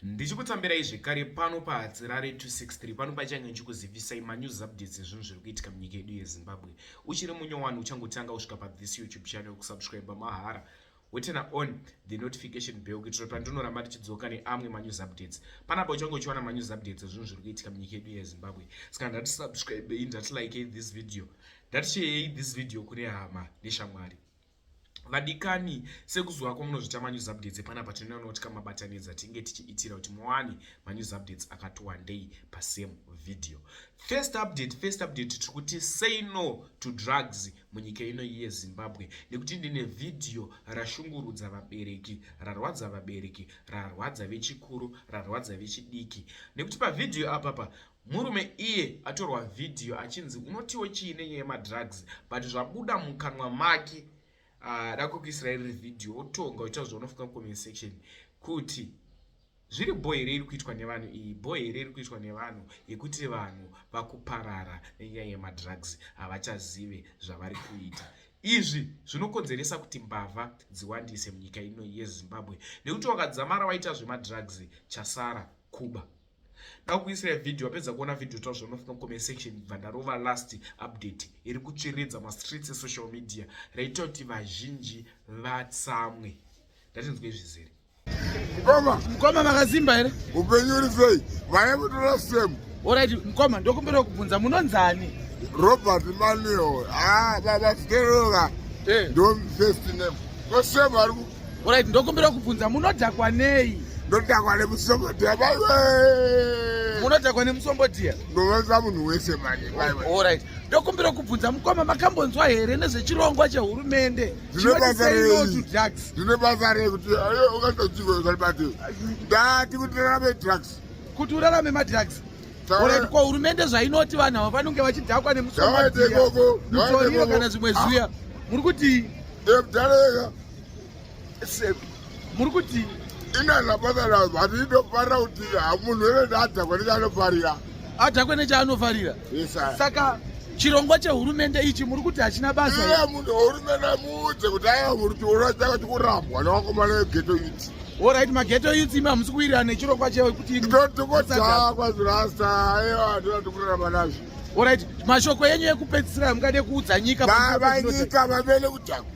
ndichikutambirai zvekare pano pahatsirare 263 pano pachange ndichikuzivisai manews updates ezvinhu zviri kuitika munyika yedu yezimbabwe uchiri munyowani uchangotanga kusvika pathis youtube channel kusubscribe mahara wetena on the notification bell kuitira kuti pandinoramba tichidzoka neamwe manews updates panapa uchange uchiwana manews updates ezvinhu zviri kuitika munyika yedu yezimbabwe saka ndati subscribei ndati likei this video ndati sheyei this video kune hama neshamwari vadikani sekuzuva kwamunozvita manews updates epanapa tinoona kuti kamabatanidza tinge tichiitira kuti muwane manews updates akati wandei pasame video first update first update tiri kuti say no to drugs munyika ino yezimbabwe nekuti ndine vhidhiyo rashungurudza vabereki rarwadza vabereki rarwadza vechikuru rarwadza vechidiki nekuti pavhidhiyo apapa Murume iye atorwa vhidhiyo achinzi unotiwo chii nenyaya yemadrugs but zvabuda mukanwa make ah, da kukuisira iri vhidhiyo wotonga uita zvaunofunga comment section kuti zviri bho here iri kuitwa nevanhu iyi bho here iri kuitwa nevanhu yekuti vanhu vakuparara nenyaya yemadrugs havachazive zvavari kuita izvi zvinokonzeresa kuti mbavha dziwandise munyika ino yezimbabwe nekuti wakadzamara waita zvemadrugs chasara kuba ndakukuisira video wapedza kuona video taura zvaunofuna kucomment section bva ndarova last update iri kutsviridza mastreets esocial media raita kuti vazhinji vatsamwe ndatinzwe zvizere mukoma mukoma makazimba here upenyu uri sei vaya mutora same orit mukoma ndokumbira kubvunza munonzani robert manuel ah, baba steroka eh. ndomfirst name kosame ari Alright, ndokumbira kubvunza munodhakwa nei? Ndodhakwa nemusombodhiya baiwe. Munodhakwa nemusombodhiya? Ndoveza munhu wese manje baiwe. Alright. Ndokumbira kubvunza mukoma makambonzwa here nezvechirongwa chehurumende? Zvine basa rei? Zvine basa rei kuti ayo ukatochiko zvali bati. Ndati kuti rarame drugs. Kuti urarame madrugs? Alright, kwa hurumende zvainoti vanhu ava vanenge vachidhakwa nemusombodhiya. Mutoriro kana zvimwe zviya. Ah. Muri kuti muri kuti inanapatana vati inofarira kuti munhu wene neadhakwe nechaanofarira adhakwe nechaanofarira saka chirongwa chehurumende ichi muri kuti hachina basa iye munhu hurumende muudze kuti aya muri kuti unoita kuti kurambwa newakomana wegeto yuti orit mageto yuti imi hamusi kuwirirana nechirongwa chekuti ndotikodzakwa zvirasa aiwa ndinatikurarama nazvo Alright, mashoko enyu ekupedzisira mungade kuudza nyika baba nyika vavele kutaku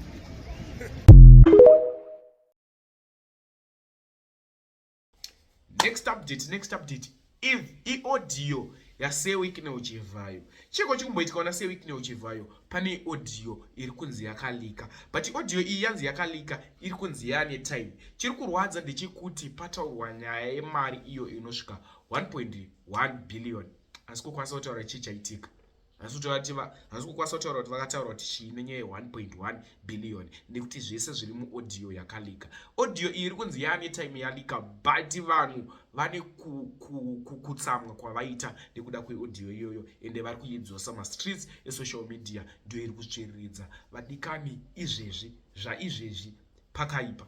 Next update, next update. If i audio ya Sir Wicknell Chivhayo. Chiko chikumboitika ona Sir Wicknell Chivhayo pane audio iri kunzi yakalika. But audio iyi yanzi yakalika iri kunzi yane time. Chiri kurwadza ndechekuti pataurwa nyaya yemari iyo inosvika 1.1 billion. asi kukwanisa kutaura chii chaitika hasi kukwanisa kutaura kuti vakataura kuti chii nenyaya ye1.1 billion nekuti zvese zviri muaudio yakalika audio iyi iri kunzi yaane time yalika but vanhu vane kutsamwa kwavaita nekuda kweaudio iyoyo ende vari kuidzosa mastreets esocial media ndiyo iri kutsviriridza vadikani izvezvi zvaizvezvi pakaipa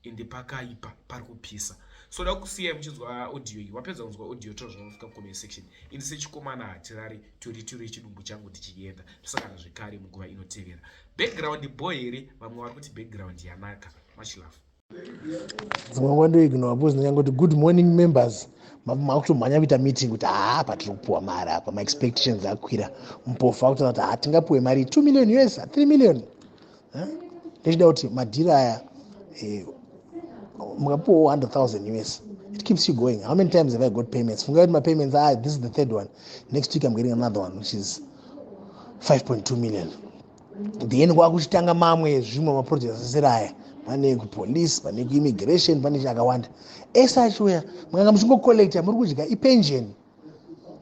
ende pakaipa pari kupisa so da kusiyai muchinzwa audio iyi wapedza kunzwa audio tozvanofuka comment section ini sechikomana hatirari 22 rechidumbu changu tichienda tosangana zvekare munguva inotevera background bo here vamwe vari kuti background yanaka much love dzimwe nguva ndoignowa bcause ndinyange kuti good morning members makutomhanya kuita meeting kuti haa patiri kupiwa mari apa maexpectations akwira mupofu akutoona kuti hatingapiwe mari 2 million us 3 million eh? ndechida kuti madhiri aya eh, mukapiwawo 100000 us it keeps you going how many times have i got payments fungai kuti mapayments ah this is the third one next week i'm getting another one which is 5.2 million then kwakuchitanga mamwe zvimwe maprojects asiri aya pane kupolice pane kuimmigration pane chakawanda ese achiuya mukanga muchingocollecta muri kudya ipension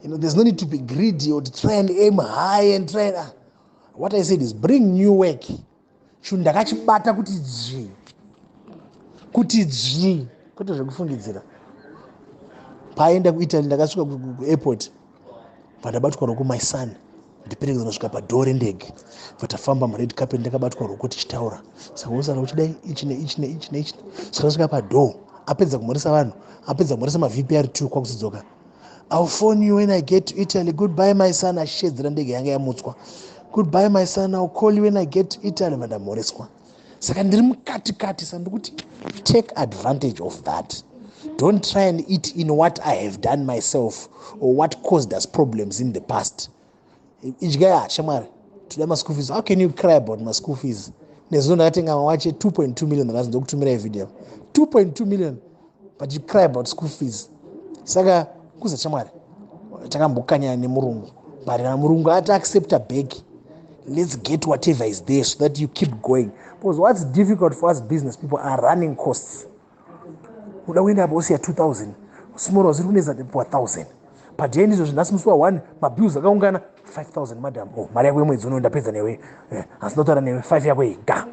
you know there's no need to be greedy or to try and aim high and try and, uh, what i said is bring new work chinhu ndakachibata kuti dzvii kuti dzvii kwete zvekufungidzira paaenda kuitaly ndakasvika kuairport pandabatwa roku my son ndiperekedza kusvika padhoo rendege vatafamba mured carpet ndakabatwa ruko tichitaura saka usara uchidai ichi neichi neichi neichi saka tasvika padhoo apedza kumhoresa vanhu apedza kumhoresa mavpr two kwakuzodzoka I'll phone you when I get to Italy. Goodbye, my son. Achishedzera ndege yanga yamutswa. Goodbye, my son. I'll call you when I get to Italy. Vandamhoreswa. Saka ndiri mukati kati sa ndikuti take advantage of that. Don't try and eat in what I have done myself or what caused us problems in the past. idyaya shamwari toda maschool fees how can you cry about maschool fees nezvino ndakatenga mawache 2.2 million ndakazi ndokutumira ivideo 2.2 million but you cry about school fees saka kuza shamwari takambokanyana nemurungu but kana murungu ati accepta bag let's get whatever is there so that you keep going because what's difficult for us business people are running costs uda kuenda apa wosiya 2000 small house iri kunetsa wa 1000 padhei ndizvo zvinhasi musi wa 1 mabills akaungana 5000 madam o oh, mari yako yemwedzi uno ndapedza newe eh, asi ndotaura newe 5 yako iyi ga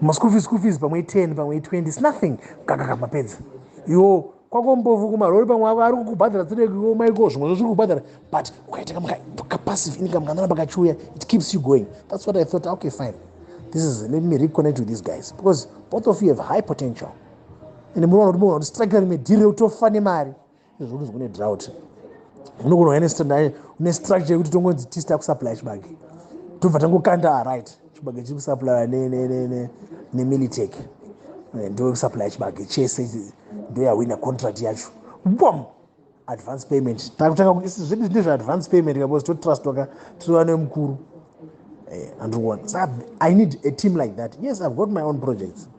maschool fees school fees pamwe 10 pamwe 20 is nothing kakaka mapedza iwo kwako mbovu kumarori pamwe avo ari kukubhadhara tsirekiwo maiko zvimwe zvo zviri kubhadhara but ukaita kapassive income kanana pakachiuya it keeps you going that's what i thought okay fine this is let me reconnect with these guys because both of you have high potential and munoona kuti muona kuti strike rine dhiri reutofa nemari izvo kuti zvokune drought unogona uya une structure yekuti tongonzi tista kusupply chibage tobva tangokanda aright chibage chiri kusaplaya nemilitec eh, ndo kusaplaya chibage chese ndo yahwina contract yacho bom advance payment takutanga kuisi zvedu zvine zveadvance payment kabos totrustwa ka tirova nemukuru eh, andikuona sa i need a team like that yes i've got my own projects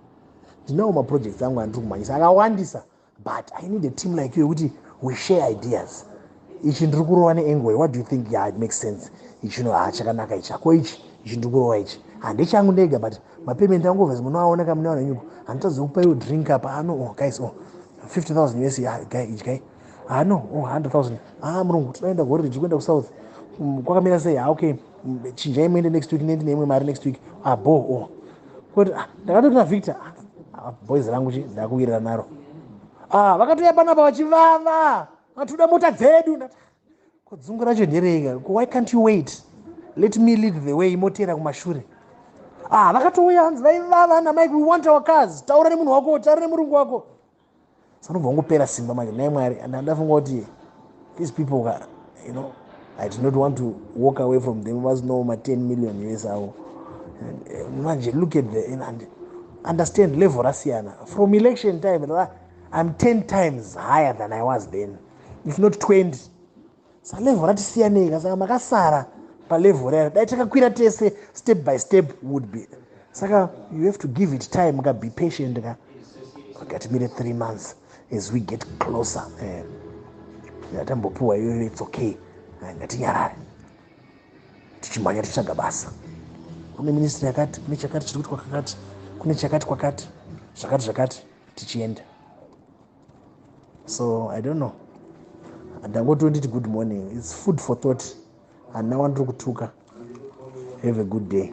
ndinawo maprojects angu andiri kumhanyisa akawandisa but i need a team like you yekuti we share ideas ichi ndiri kurova neengoy what do you think yeah, it makes sense ichino ha ah, chakanaka ichi ako ichi ichi ndiri kurova ichi handechangu ndega but mapayment angu overs munoaona ka munewana nyuko handitadza kupa iwo drink apa ano ah, oh, guys o oh, 50 000 us ah, guy ichi guy ano o 100 000 a murungu tinoenda gore riji kuenda kusouth mm, kwakamira sei ha okay chinjai muende next week nendi neimwe mari next week abo ah, o oh. koti ah, ndakatoti na victor ah, boys rangu chi ndakuwirira naro ah vakatouya panapa vachivava vatoda mota dzedu ko dzungu racho ndereika ko why can't you wait let me lead the way moteera kumashure ah vakatouya hanzi vaivava namike we want our cars taura nemunhu wako taura nemurungu wako sanobva wangopera simba manje nhai mwari and andafunga kuti these people ka you know i did not want to walk away from them vazinowo ma10 million us avo eh, manje look at the and understand level rasiyana from election time i'm 10 times higher than i was then if not 20 sa level rati siyanei ka saka makasara pa level rayo dai takakwira tese step by step would be saka you have to give it time ka be patient ka ngatimire three months as we get closer eh, yatambopiwa iyoyo its okay eh, ngatinyarare tichimhanya tichitsvaga basa kune ministry yakati kune chakati chiri kuti kwakakati kune chakati kwakati zvakati zvakati tichienda so i don't know ndangoti unditi good morning its food for thought hanna wandiri kutuka have a good day